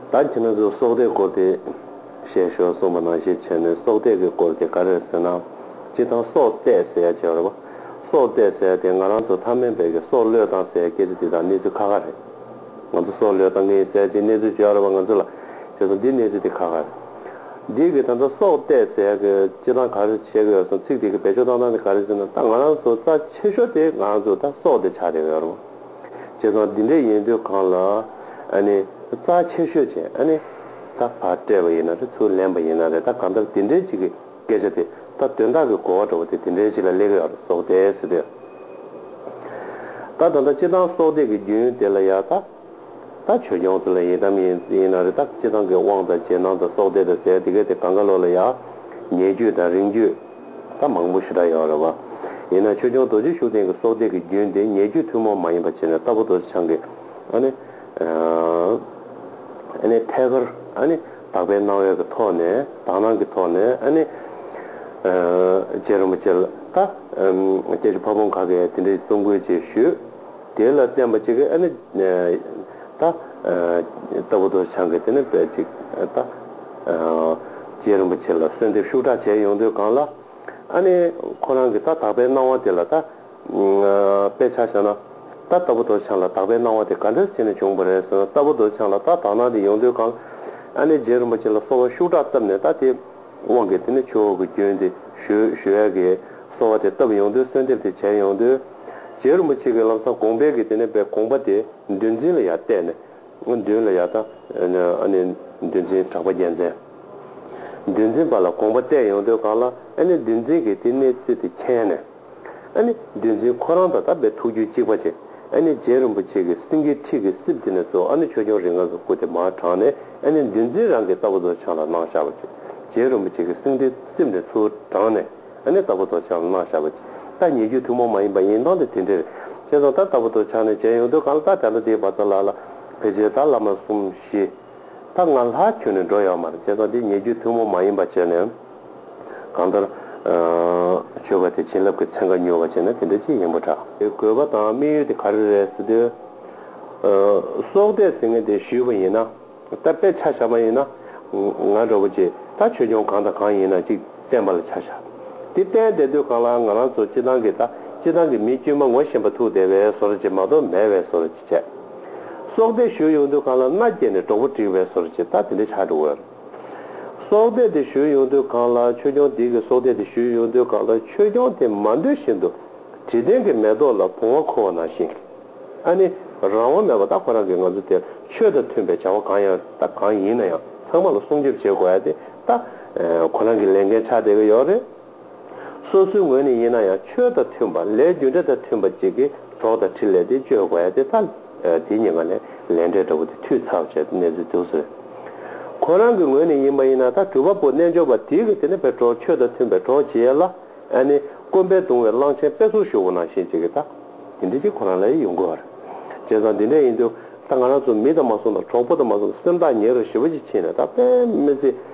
ད་ཁྱེད་རང་ཚོས་སྲོག་གཏད་སྐོར་དེ་བཤད་ཞོར་གསུངས་པ་ནང་བཞིན་བྱས་ནས་སྲོག་གཏད་ཀྱི་སྐོར་དེ་ག་རེད་ཟེར་ན། སྤྱིར་བཏང་སྲོག་གཏད་ཟེར་ཡ་བྱས་པ་རེད་བ། སྲོག་གཏད་ཟེར་ཡ་དེ་ང་རང་ཚོ་ཐ་མལ་བས་ཀྱི་སྲོག་བློས་བཏང་ཟེར་ཡ་སྐད་ཆ་དེ་དག་གནས་ཚུལ་ཁ་ཁ་རེད། ང་ཚོ་སྲོག་བློས་བཏང་གི་ཡིན་ཟེར་ཡ་དེ་གནས་ཚུལ་བརྗོད་ཡ་རེད་བ་ང་ཚོ་ལ། བྱས་སོང་འདི་གནས་ཚུལ་དེ་ཁ་ཁ་རེད། འདིས་ཀྱི་ད་ལྟ་སྲོག་གཏད་ཟེར་ཡ་གི་སྤྱིར་བཏང་ག་རེ་བྱས་ཀྱི་ཡོད་སོང་ཚིག་དེ་ཀྱི་བེད་སྤྱོད་བཏང་སྟངས་དེ་ག་རེད་ཟེར་ན་ད་ང་རང་ཚོ་རྩ་ཆེ་ཤོས་དེ་ང་རང་ཚོ་ད་སྲོག་དེ་ཆགས་བསྡད་ཀྱི་ཡོད་རེད་བ། བྱས་ཙང་འདི་འདྲའི་ཡན་དུས་གང་ལ་རྩ་ཆེ་ཤོས་ཆེ་ད་བར་སྤྲད་པ་ཡིན་ན་རེད་ཚུར་ལེན་པ་ཡིན་ན་རེད་ད་གང་ལྟར་དེ་འདྲའི་ཅིག་གི་སྐད་ཆ་དེ་ད་དོན་དག་གི་གོ་བ་འགྲོ་བ་དེ་དེ་འདྲའི་ཅིག་ལ་ལེགས་ཡོད་སོགས་དེ་སྲིད་དུ་ད་ད་ད་སྤྱི་བཏང་གསོག་སྟེགས་ཀྱི་རྒྱུན་དེ་ལ་ཡང་ད་ད་ཆོས་སྐྱོང་ཚུལ་ལ་ཡི་དམ་ཡིན་ན་རེད་ད་སྤྱི་བཏང་གི་དབང་དང་རྗེས་གནང་དང་སོགས་དེ་དང་ཟེར་དེ་གས་དེ་གང་ག་ལོ་ལ་ཡང་ཉེ་བརྒྱུད་དང་རིང་བརྒྱུད། ད་མང་པོ་ཞུ་དག་ཡོད་རེད་བ། ཡིན་ནའང་ཆོས་སྐྱོང་རྡོ་རྗེ་ཤུགས་ལྡན་གྱི་སྲོག་གཏད་ཀྱི་རྒྱུན་དེ་ཉེ་རྒྱུད་ཐུན་མོང་མ་ཡིན་པ་བྱས་ན་རྟ་ཕོ་རྡོ་རྗེ་འཆང་གི། ཨ་ནི། ཨ་ནི། ཐད་ཀར། ཨ་ནི། དག་པའི་སྣང་བས་ཀྱི་ཐོག་ནས་དག་སྣང་གྱི་ཐོག་ནས་ཨ་ནི། རྗེ་རིན་པོ་ཆེ་ལ་ད། སྐྱེ་ཆུ་ཕ་བོང་ག་གས་དེ་འདྲའི་བཙུན་དགོས་ཅེས་ཞུས། དེ་ལ་བརྟེན་པ་གཅིག་གིས་ཨ་ནི། ད་ལྟ་བུ་དོ་བྱང་གིས་དེ་ནི་བལ་གཅིག། ད་ལྟ། རྗེ་རིན་པོ་ཆེ་ལ་གསོལ་འདེབས་ཤུགས་དྲག་བྱས་ཡོང་དུས་གང་ལ། ཨ་ནི། ཁོ་རང་གིས་ད་དག་པའི་སྣང་བ་དེ་ལ་ད། དཔེ་ཆ་བཞག་ན། ད་ལྟ་བུ་དོ་བྱང་ལ་དག་པའི་སྣང་བ་དེ་ག་འདྲར་བྱས་ནས་བྱུང་བ་རེད་ཟེར་ན་ལྟ་བུ་དོ་བྱང་ལ་ད་དག་སྣང་དེ་ཡོང་དུས་གང་ལ། ཨ་ནི་རྗེ་རིན་པོ་ཆེ་ལ་གསོལ་བ་ཤུགས་དྲག་བཏབ་ནས་ད་དེ། དབང་གིས་དེ་ནི་ཆོས་ཀྱི་སྐྱོན་ཏེ། ཞུས་ཀྱིས། གསོལ་བ་དེ་བཏབ་ཡོང་དུས་གསོལ་འདེབས་དེ་བྱས་ཡོང་དུས། རྗེ་རིན་པོ་ཆེ་གིས་ལམ་སང་དགོངས་པས་ཀྱིས་དེ་ནས་པའི་དགོངས་པ་དེ་འདུལ་འཛིན་ལ་ཡང་གཏད་ནས། འདུལ་ལ་ཡང་བཏང། འདུལ་འཛིན་གྲགས་པ་རྒྱལ་མཚན། འདུལ་འཛིན་པ་ལ་དགོངས་པ་གཏད་ཡོང་དུས་གང་ལ། འདུལ་འཛིན་གྱིས་དེ་གནས་ཚུལ་དེ་མཁྱེན་ནས། ཨཱ་ནི། འདུལ་འཛིན་ཁོ་རང་དང་དམ་པའི་ཐུགས་རྒྱུད་གཅིག་པ་ཅན། ཨཱ་ནི། རྗེ་རིན་པོ་ཆེ་གི་སེང་གེའི་ཁྲི་གི་སྲིབ་དེ་ནས་གཙོ་བོ་ཨཱ་ནི་ཆོས་སྐྱོང་རིགས་ལྔ་གི་སྐུ་དེ་མར་དྲངས་ནས་ཨཱ་ནི། འདུལ་འཛིན་རང་གི་རྟ་ཕོ་དོ་ཆང་ལ་སྣང་ཤར་བ་ཅན། རྗེ་རིན་པོ་ཆེ་གི་སེང་གེའི་སྲིབ་ནས་ཚུར་དྲངས་ནས་ཨཱ་ནི་རྟ་ཕོ་དོ་ཆང་ལ་སྣང་ཤར་བ་ཅན། རྟ་ཉིད་རྒྱུད་ཐུན་མོང་མ་ཡིན་པ་ཡིན་སྟངས་དེ་དེ་འདྲའི་རེད། ཅེས་སོགས་ལྟར་རྟ་ཕོ་དོ་ཆང་ནས་རྗེ་གཡུང་དྲུང་གང་ལ་རྟ་དྲངས་པ་དེའི་བར་ཚང་ལ་ལ། བེ་ཇེ་ཏཱ་བླ་མ་གསུམ་བཞི། ད་ང་ལྷ་ཁྱོད་ནི་འགྲོ་ཡོང་མར་བྱས་ཙང་དེ་ཉེ་རྒྱུ་ཐུན་མོང་མ་ཡིན་པ་བྱས་ནས། གང་ལྟར། ཆོལ་ཁ་དེ་བྱིན་རླབས་ཀྱི་ཚན་ཁ་ཉུལ་བ་བྱས་ན་དེ་འདྲ་ཅི་ཡིན་པོ་འདྲ། དགོས་པ་དང་དམིགས་ཡུལ་དེ་ག་རེ་རེད་ཟེར་དུས། སྲོག་བསྡད་ཟེར་མཁན་དེ་ཞུས་པ་ཡིན་ན། ད་དཔེ་ཆ་བཞག་པ་ཡིན་ན། ང་འདྲ་བོ་ཅིག་ད་ཆོས་སྐྱོང་གང་དང་གང་ཡིན་ན་ཅིག་བསྟན་པ་ལ་ཆ་བཞག་དེ་བསྟན་བསྡད་དུས་གང་ལ་ང་རང་ཚོ་སྤྱི་བཏང་གི་ད་སྤྱི་བཏང་གི་མི་དཀྱུས་མ་ངོ་ཤེས་པ་ཐུག་བསྡད་པའི་ཟོར་བྱེད་མ་གཏོགས་མེད་བས་ཟོར་བྱས། སྲོག་གཏད་བཞུད་ཡོང་དུས་གང་ལ་མནའ་བསྐྱལ་ནས་གྲོགས་པོ་བསྒྲིགས་པའི་ཟོར་ཇི་ལྟ་དེ་འདྲའི་ཆགས་འགྲོ་འོས། སྲོག་གཏད་དེ་བཞུད་ཡོང་དུས་གང་ལ་ཆོས་སྐྱོང་དེ་གི་སྲོག་གཏད་དེ་བཞུད་ཡོང་དུས་གང་ལ་ཆོས་སྐྱོང་དེ་མ་འདོད་བཞིན་དུ་དྲི་ལྡན་གྱི་མེ་ཏོག་ལ་བུང་བ་འཁུར་བ་ནང་བཞིན། ཨ་ནི། རང་དབང་མེད་པ་ད་ཁོ་རང་གིས་ང་ཚོ་དེར་ཆོས་དང་མཐུན་པའི་བྱ་བ་གང་ཡང་ད་གང་ཡིན་ན་ཡང་ཚང་མ་ལ་སྲུང་སྐྱོབ་བྱེད་དགོས་ཡ་དེ་ད། ཁོ་རང་གིས་ལས་འགན་ཆགས་བསྡད་ཀྱི་ཡོད་རེད། སོ་སོའི་ངོས་ནས་ཡིན་ན་ཡང་ཆོས་དང་མཐུན་པ་ལས་རྒྱུ་འབྲས་དང་མཐུན་པ་གཅིག་གིས་གྲོགས་དང་འཕྲིན་ལས་དེ་བཅོལ་དགོས་ཡ་དེ་ལྟ། དེ་གཉིས་ཀ་ལས་ལས་འབྲས་འདྲ་བོ་དེ་འཐུས་ཚབ་བྱས་ཏེ་གནས་ཚུལ་དུ་ཟེར། ཁོ་རང་གི་ངོས་ནས་ཡིན་པ་ཡིན་ན་ད་གྲུབ་པ་པོ་རྣལ་འབྱོར་པ་དེ་གིས་དེ་ནས་བས་གྲོགས་ཆོས་དང་མཐུན་པའི་གྲོགས་བྱེད་ཡ་ལ། ཨ་ནི་དཀོན་པས་དུང་བའི་གླང་ཆེན་དཔེ་ཚོར་ཞུ་བོ་ནང་བཞིན་བྱེད་ཀི་ད། དེ་འདྲ་གཅིག་ཁོ་རང་ལ་ཡི་ཡོང་དགོས་བ་རེད། བྱས་ཙང་དེ་འདྲ་ཡིན་དུས་ད་ང་རང་ཚོ་མི་དང་མ་གསུངས་ད་གྲོགས་པོ་དང་མ་གསུངས་ད་སེམས་ཐག་ཉེ་རུ་ཞི་བ་ཅིག་ཕྱིན་ནས་ད་དཔེ་མི་ཚེ་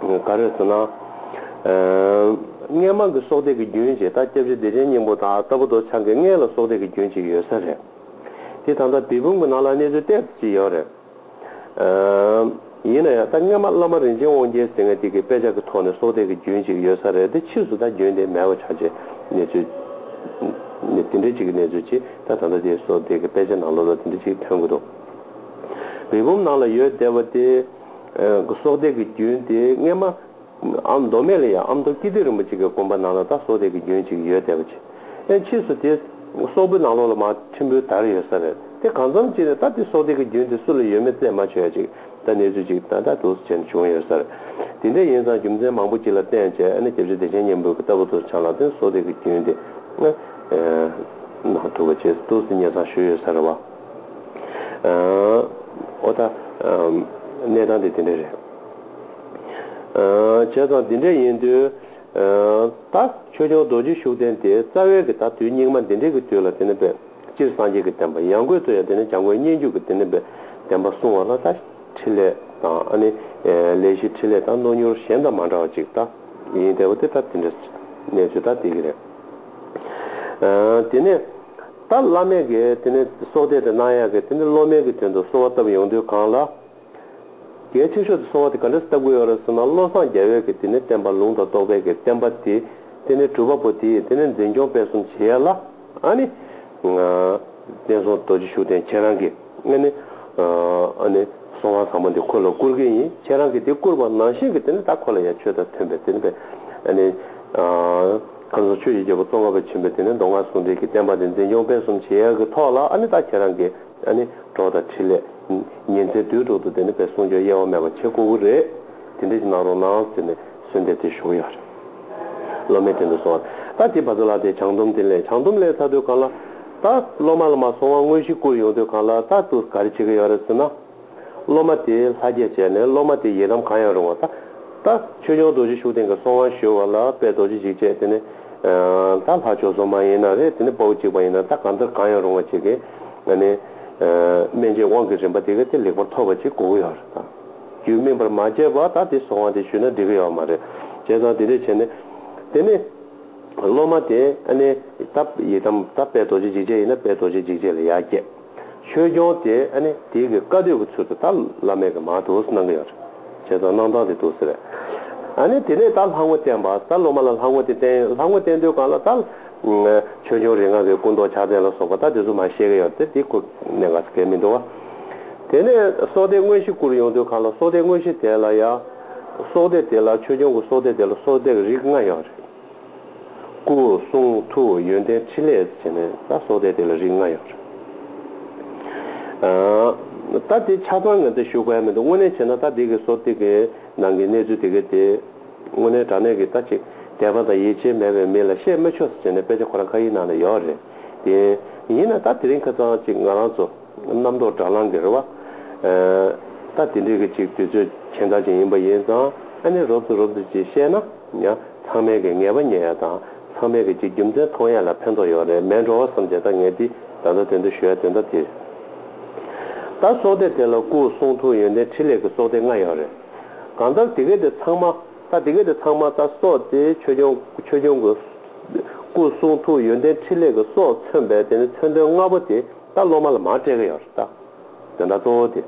ག་རེ་ཟེར་ན། སྔས་མང་གི་སྲོག་གཏད་ཀྱི་རྒྱུན་བཅས་ད་སྐྱབས་རྗེ་བདེ་ཆེན་སྙིང་པོ་དང་རྟ་ཕོ་རྡོ་འཆང་གི་སྔས་ལ་སྲོག་གཏད་ཀྱི་རྒྱུན་བཅས་ཡོད་ས་རེད། དེ་ད་ལྟ་བལ་བུམ་གྱི་ནང་ལ་གནས་ཚུལ་གཏད་ཀྱི་ཡོད་རེད། ཡིན་ན་ཡང་ད་སྔས་མ་བླ་མ་རིན་ཆེན་དབང་རྒྱལ་ཟེར་ངས་དེ་གི་དཔེ་ཆ་གི་ཐོག་ནས་སྲོག་གཏད་ཀྱི་རྒྱུན་བཅས་ཡོད་ས་རེད་དེ་ཕྱིས་སུ་ད་རྒྱུན་དེ་མེད་པ་ཆགས་རྗེས་གནས་ཚུལ། དེ་འདྲའི་ཅིག་གི་གནས་ཚུལ་གྱིས་ད་ད་ལྟ་དེ་སྲོག་གཏད་ཀྱི་དཔེ་ཆ་ནང་ལོ་ལོ་དེ་འདྲའི་ཅིག་ཐོན་གྱི་འདུག་བལ་བུམ་ནང་ལ་ཡོད་བསྡད་པ་དེ། སྲོག་གཏད་ཀྱི་རྒྱུན་དེ་སྔས་མ། ཨ་མདོ་སྨད་ལ་ཡང་ཨ་མདོ་སྐྱིད་ལྡེ་རིན་པོ་ཆེ་གི་དགོན་པ་ནང་ལ་ད་སྲོག་གཏད་ཀྱི་རྒྱུན་ཅིག་ཡོད་བསྡད་པ་ཅི། ཨེ་ཕྱིས་སུ་དེ། སོག་པོའི་ནང་ལོགས་ལ་མ་ཁྲིམས་པོའི་དར་ཡོད་ས་རེད་དེ་གང་མཚམས་ཅི་ནས་ད་དེ་སྲོག་གཏད་ཀྱི་རྒྱུན་དེ་སུ་ལ་ཡོད་མེད་རྩད་མ་ཆོད་ཅིག་ད་གནས་ཚུལ་ཅིག་ད་ད་དུག་སུ་བྱས་ནས་བྱུང་ཡོད་ས་རེད། དེ་འདྲ་ཡིན་ཙང་རྒྱུ་མཚན་མང་པོ་ཅིག་ལ་བརྟེན་བྱས་ཨེ་ན་རྒྱབ་ཆ་བདེ་ཆེན་སྙན་འབུལ་གྱི་རྟ་ཕོ་དུ་ཆང་ལ་བརྟེན་སྲོག་གཏད་ཀྱི་རྒྱུན་དེ། ནང་ཐུག་པ་བྱས་སུ་དུག་སུ་ཉེ་ཚང་ཞུ་ཡོད་ས་རེད་བ། ཨོ་ད། གནས་སྟངས་དེ་དེ་འདྲ་རེད། བྱས་ཙང་འདི་འདྲ་ཡིན་དུས། ད། ཆོས་སྐྱོང་རྡོ་རྗེ་ཤུགས་ལྡན་དེ་རྩ་བའི་གི་ད་དུས་སྙིགས་མ་འདི་འདྲའི་གི་དུས་ལ་དེ་ནི་པདྨ་སྤྱིར་སངས་རྒྱས་ཀྱི་བསྟན་པ་ཡང་དགོས་ཚུལ་ཡང་དེ་ནི་བྱམས་མགོན་སྙན་བརྒྱུད་ཀྱི་དེ་ནི་བསྟན་པ་གསུང་བ་ལ་ད་ཕྲིན་ལས་དང་ཨ་ནི། ལས་བཞི་ཕྲིན་ལས་དང་རྣོ་མྱུར་གཞན་དང་མ་འདྲ་བ་ཅིག་ད་ཡིན་དེ་བ་དེ་ད་དེ་འདྲ་གནས་ཚུལ་ད་དེ་གི་རེད། དེ་ནས། ད་བླ་མས་ཀྱི་དེ་ནས་སྲོག་གཏད་དེ་གནང་ཡག་གི་དེ་ནས་སློབ་མའི་ཀྱི་དོན་དུ་གསོལ་བ་བཏབ་ཡོང་དུས་གང་ལ། གལ་ཆེ་ཤོས་དེ་གསོལ་བ་དེ་ག་འདྲ་བཏབ་གི་ཡོད་རེད་ཟེར་ན་བློ་བཟང་རྒྱ་བོས་ཀྱི་དེ་ནས་བསྟན་པ་ལུང་དང་རྟོགས་པའི་ཀྱི་བསྟན་པ་དེ་དེ་ནས་གྲུབ་པ་པོ་དེ་ཡིས་དེ་ནས་འཛིན་སྐྱོང་སྤེལ་གསུམ་བྱེད་ཡག་ལ་ཨ་ནི། བསྟན་སྲུང་རྡོ་རྗེ་ཤུགས་ལྡན་ཁྱེད་རང་གི་ཨ་ནི། ཨ་ནི། གསོལ་བ་བཟང་པོ་འདི་ཁོ་ལ་བསྐུར་གི་ཡིན་ཁྱེད་རང་གི་དེ་བསྐུར་བ་ནང་བཞིན་གྱི་དེ་ནས་ད་ཁོ་ལ་ཡ་ཆོས་དང་མཐུན་པའི་དེ་ནས་པའི་ཨ་ནི། ཁམས་གསུམ་ཆོས་ཀྱི་རྒྱལ་པོ་གཙོ་འཁོར་བ་ཆེན་པོས་དེ་ནས་མདོ་སྔགས་ཟུང་འབྲེལ་གྱི་བསྟན་པ་འདི་འཛིན་སྐྱོང་སྤེལ་གསུམ་བྱེད་ཡག་གི་ཐོག་ལ་ཨ་ནི་ད་ཁྱེད་རང་གི་ཨ་ནི་གྲོགས་དང་འཕྲིན་ལས། ཉིན་མཚན་དུས་དྲུག་ཏུ་དེ་ནི་བེད་གསུང་སྐྱོང་གཡེལ་བ་མེད་པ་བྱེད་དགོས་གི་རེད། དེ་འདྲས་ཅིག་གནང་རོགས་གནང་ཟེར་ནས་གསོལ་འདེབས་དེ་ཞུ་གི་ཡོད་རེད། སློབ་མའི་དོན་དུ་སོང་བ་རེད། ད་དེ་བ་ཚོ་ལ་དེ་བྱང་སྡོམ་དེ་ལས་བྱང་སྡོམ་ལས་ཚར་དུས་གང་ལ། ད་སློབ་མ་ལ་མ་སོང་བ་དངོས་གཞི་བསྐུར་ཡོང་དུས་གང་ལ་ད་དུ་ག་རེ་བྱེད་ཀྱི་ཡོད་རེད་ཟེར་ན། སློབ་མ་དེས་ལྷ་བསྐྱེད་བྱས་ནས་སློབ་མ་དེའི་ཡི་དམ་གང་ཡང་རུང་བ་ད་ལྟ། ཆོས་སྐྱོང་རྡོ་རྗེ་ཤུགས་ལྡན་གྱི་སྲོག་དབང་ཞུ་བ་ལ་དཔལ་རྡོ་རྗེ་འཇིགས་བྱེད་དེ་ནི། ད་ལྷ་ཆོས་སྲོག་མ་ཡིན་ན་རེ་དེ་ནི་དཔའ་བོ་གཅིག་པ་ཡིན་ན་ད་གང་ལྟར་གང་ཡང་རུང་བ་བྱེད་ཀྱི། ནི། སྨན་དཔྱད་དབང་གི་རིམ་པ་དེ་ག་དེ་ལེགས་པར་ཐོབ་པ་ཅིག་གོ་གི་ཡོད་རེད་ད། རྒྱུད་སྨིན་པར་མ་བྱས་པར་ད་དེ་སྲོག་དབང་དེ་ཞུས་ན་འགྲིག་གི་ཡོད་མ་རེད། བྱས་ཙང་དེ་འདྲས་བྱས་ནས། དེ་ནི། སློབ་མ་དེས། ད་ཡི་དམ་ད་དཔལ་རྡོ་རྗེ་འཇིགས་བྱེད་ཡིན་ན་དཔལ་རྡོ་རྗེ་འཇིགས་བྱེད་ལ་ཡར་བསྐྱེད། ཆོས་སྐྱོང་དེ་ཨ་ནི་དེ་གི་བཀའ་སྡོད་ཀི་ཚུལ་དུ་ད་བླ་མེད་ཀི་མ་དུ་སི་གནང་གི་ཡོད་རེད་བྱས་ཙང་གནང་སྟངས་དེ་དུ་སི་རེད་ཨ་ནི་དེ་ནས་ད་ལྷ་ངོ་བསྟན་པ་ད་སློབ་མ་ལ་ལྷ་ངོ་དེ་བསྟན་ཡོད་ལྷ་ངོ་བསྟན་དུས་གང་ལ་ད་ཆོས་སྐྱོང་རིགས་ང་གི་སྐུ་མདོག་ཕྱག་མཚན་ལ་སོགས་པ་ད་དེ་ཚོ་མ་བཤད་གི་ཡོད་རེད་དེ་ཁོ་ནས་ག་ས་གས་མི་འདུག་བ་དེ་ནས་སྲོག་བདེ་དངོས་གཞི་བསྐུར་ཡོང་དུས་གང་ལ་སྲོག་བདེ་དངོས་གཞི་དེ་ལ་ཡ་སྲོག་བདེ་དེ་ལ་ཆོས་སྐྱོང་གི་སྲོག་བདེ་དེ་ལ་སྲོག་བདེ་གི་རིགས་ལྔ་ཡོད་རེད། སྐུ་གསུང་ཐུགས་ཡོན་ཏན་ཕྲིན་ལས་ཟེར་ནས་ད་སོགས་ཏེ་དེ་ལ་རིགས་ལྔ་ཡོད། ད་དེ་ཆ་ཚང་ངས་འདིར་ཞུ་དགོས་ཡ་མི་འདུག་དངོས་གནས་བྱས་ན་ད་འདི་གི་སོ་ཏིག་གི་ནང་གི་གནས་ཚུལ་དེ་གའི་དེ། དངོས་གནས་དྲང་གནས་ཀྱི་ད་ཅིག་དད་པ་དང་ཡིད་ཆེས་མེད་པའི་མི་ལ་བཤད་མི་ཆོག་ཟེར་ནས་དཔེ་ཆ་ཁོ་རང་ཁ་ཡི་ནང་ལ་ཡོད་རེད་དེ། ཡིན་ན་ད་དེ་རིང་ཁ་ཚང་ཅིག་ང་རང་ཚོ་རྣམ་རྟོག་སྦྲག་ལང་གི་རེད་བ། ད་དེ་འདྲི་གི་ཅིག་དུས་ཚོད་གྱེན་ཐག་ཅིག་ཡིན་པ་ཡིན་ཙང་ཨ་ནེ་རོབ་ཙི་རོབ་ཙི་ཅིག་བཤད་ན། ཡ། ཚང་མས་ཀྱི་ངལ་བ་ཉན་ཡ་དང་ཚང་མས་ཀྱི་གྱི་རྒྱུ་མཚན་མཐོང་ཡ་ལ་ཕན་ཐོག་ཡོག་རེད་མས་འགྲོ་བ་བསམ་བྱས་ད་ངས་འདིས་ད་ད་དོན་དུ་ཞུ་ཡ་དོན་དག་གྱི་རེད། ད་སོག་སྡེ་དེ་ལ་སྐུ་གསུང་ཐུགས་ཡོན་ཏན་ཕྲིན་ལས་ཀྱི་སོག་སྡེ་ལྔ་ཡོག་རེད། གང་ལྟར་དེ་གའི་དེ་ཚང་མ་ད་དེ་གའི་དེ་ཚང་མ་ད་སོག་སྡེ་ཆོས་སྐྱོང་ཆོས་སྐྱོང་གི་སྐུ་གསུང་ཐུགས་ཡོན་ཏན་ཕྲིན་ལས་ཀྱི་སོག་མཚོན་པས་དེ་ནི་མཚོན་དོན་ལྔ་པོ་དེ་ད་སློབ་མ་ལ་མ་སྤྲད་ཀྱི་ཡོག་རེད་ད་དོན་དག་གཙོ་བོ་དེ་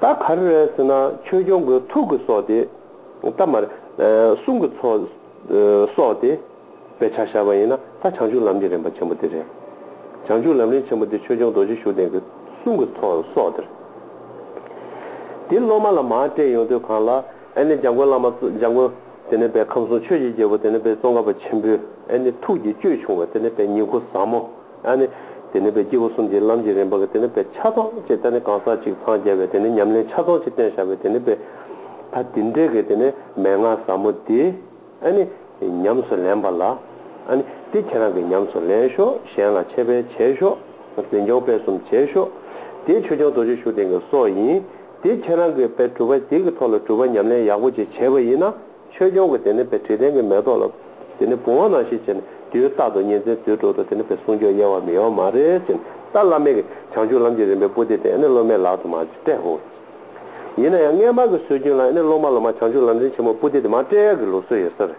ད་ག་རེ་རེད་ཟེར་ན་ཆོས་སྐྱོང་གི་ཐུགས་ཀྱི་སོག་སྡེ། ཐ་མར། གསུང་གི་ཚོགས། སོགས་ཏེ། པའི་ཕྱག་བྱ་བ་ཡིན་ན་ད་བྱང་ཆུབ་ལམ་གྱི་རིམ་པ་ཆེན་པོ་འདི་རེད། བྱང་ཆུབ་ལམ་རིམ་ཆེན་པོ་འདི་ཆོས་སྐྱོང་རྡོ་རྗེ་ཤུགས་ལྡན་གྱི། གསུང་གི་ཚོགས་སོགས་དེར། དེ་སློབ་མ་ལ་མ་སྤྲད་ཡོང་དུས་གང་ལ། ཨེ་ནི་འཇམ་མགོན་བླ་མ། འཇམ་མགོན། དེ་ནས་པའི་ཁམས་གསུང་ཆོས་ཀྱི་རྒྱལ་པོ་དེ་ནས་པའི་ཙོང་ཁ་པ་ཆེན་པོས་ཨེ་ནི་ཐུགས་ཀྱི་སྤྱོད་ཆུང་བ་དེ་ནས་པའི་ཉིད་འཁོར་ཟབ་མོ། ཨ་ནི། དེ་ནི་བའི་སྐྱེས་བུ་གསུམ་གྱིས་ལམ་གྱི་རིམ་པ་གི་དེ་ནི་བའི་ཆ་ཚང་ཅེས་ད་ནི་གང་ཟག་གཅིག་འཚང་རྒྱ་བའི་དེ་ནི་ཉམས་ལེན་ཆ་ཚང་ཅེས་སྟོན་བྱ་བའི་དེ་ནི་བའི། ད་དེ་འདྲའི་གི་དེ་ནི་མན་ངག་ཟབ་མོ་དེ། ཨ་ནི། ཉམས་སུ་ལེན་པ་ལ། ཨ་ནི། དེ་ཁྱེད་རང་གིས་ཉམས་སུ་ལེན་ཤོག་གཞན་ལ་འཆད་སྤེལ་བྱེད་ཤོག། འཛིན་སྐྱོང་སྤེལ་གསུམ་བྱེད་ཤོག། དེ་ཆོས་སྐྱོང་རྡོ་རྗེ་ཤུགས་ལྡན་གྱི་སྲོག་ཡིན། དེ་ཁྱེད་རང་གིས་བའི་གྲུབ་པ་དེ་གི་ཐོག་ལ་གྲུབ་པ་ཉམས་ལེན་ཡག་པོ་ཅིག་བྱེད་པ་ཡིན་ན། ཆོས་སྐྱོང་གིས་དེ་ནས་བས་དྲི་ལྡན་གྱི་མེ་ཏོག་ལ། དེ་ནས་བུང་བ་ན་ཞེས་བྱས་ནས་དེའི་རྟག་ཏུ་གཉེན་ཚན་དུད་འགྲོ་དང་དེ་ནས་བས་གསུང་ཆོས་གཡེལ་བ་མི་ཡོང་མ་རེད་ཅེས་ཏཱ་བླ་མས་གིས་བྱང་ཆུབ་ལམ་གྱི་རིམ་པའི་པུ་སྟི་དེ་ཨེ་ནི་སློབ་མའི་ལག་ཏུ་མ་སྤྲད་ཧོ། ཡིན་ན་ཡང་སྔས་མར་གྱི་སྲོལ་རྒྱུན་ལ་ཨེ་ནི་སློབ་མ་ལོ་མ་བྱང་ཆུབ་ལམ་རིན་ཆེན་མོར་པུ་སྟི་དེ་མ་སྤྲད་ཡ་གི་ལུགས་སྲོལ་ཡོད་ས་རེད།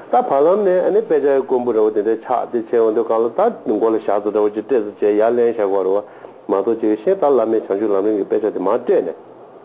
ད་བར་ལམ་ནས་ཨེ་ནི་དཔེ་ཆ་ཡི་ཀོང་བུ་རེ་བ་དེ་འདྲའི་ཆགས་དེ་ཆེ་འོང་དུས་གང་ལ་ད་མགོ་ལ་བཞག་ཚོ་འདྲ་བོ་ཅིག་སྤྲད་ཚོ་བྱས་ཡ་ལན་བཞག་གོ་རེ་བ་མ་གཏོགས་ཅི་གི་ཤེས་ད་བླ་མས་བྱང་ཆུབ་ལམ་རིན་གྱི་དཔེ་ཆ་དེ་མ་སྤྲད་ནས།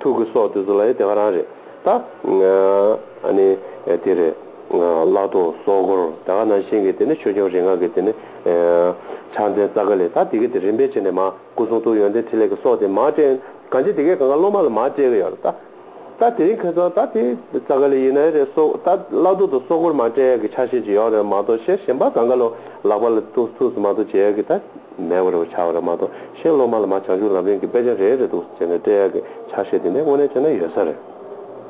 ཐུགས་ཀྱི་སྲོག་དེ་ཚོ་ལ་ཡང་དེ་ག་རང་རེད་ད། ཨ་ནི། དེ་རེད། བླ་རྡོ་སྲོག་སྒོར་དེ་ག་ནང་བཞིན་གྱི་དེ་ནི་ཆོས་སྐྱོང་རིགས་ལྔ་གྱི་དེ་ནི། ཕྱག་མཚན་རྩ་ཀ་ལས་ད་དེ་གའི་དེ་རིམ་པས་བྱས་ནས་མ་སྐུ་གསུང་ཐུགས་ཡོན་ཏན་ཕྲིན་ལས་ཀྱི་སྲོག་དེ་མ་སྤྲད། གང་ཅི་དེ་གའི་གང་ག་སློབ་མ་ལ་མ་སྤྲད་གི་ཡོད་རེད་ད། ད་དེ་རིང་ཁྱོད་ཚོ་ད་དེ་རྩ་ཀ་ལས་ཡིན་ནའི་རེད་སྲོག་ད་བླ་རྡོ་དང་སྲོག་སྒོར་མ་སྤྲད་གི་ཆ་ཤས་ཅིག་ཡོད་རེད་མ་གཏོགས་ཤེར་ཞེན་པ་གང་ག་ལོ་ལག་པ་ལ་ཐུགས་སུ་མ་གཏོགས་བྱས་གི་ད། མེད་པར་བྱ་བ་རེད་མ་གཏོགས་གཞན་སློབ་མ་ལ་མ་བྱང་ཆུབ་ལམ་རིང་གི་དཔེ་ཆ་རེ་རེ་འདུག་ཟེར་ནས་བསྟོད་གཡར་གྱི་ཆ་ཤས་དེ་འདྲ་དངོས་གནས་བྱས་ན་ཡོད་ས་རེད།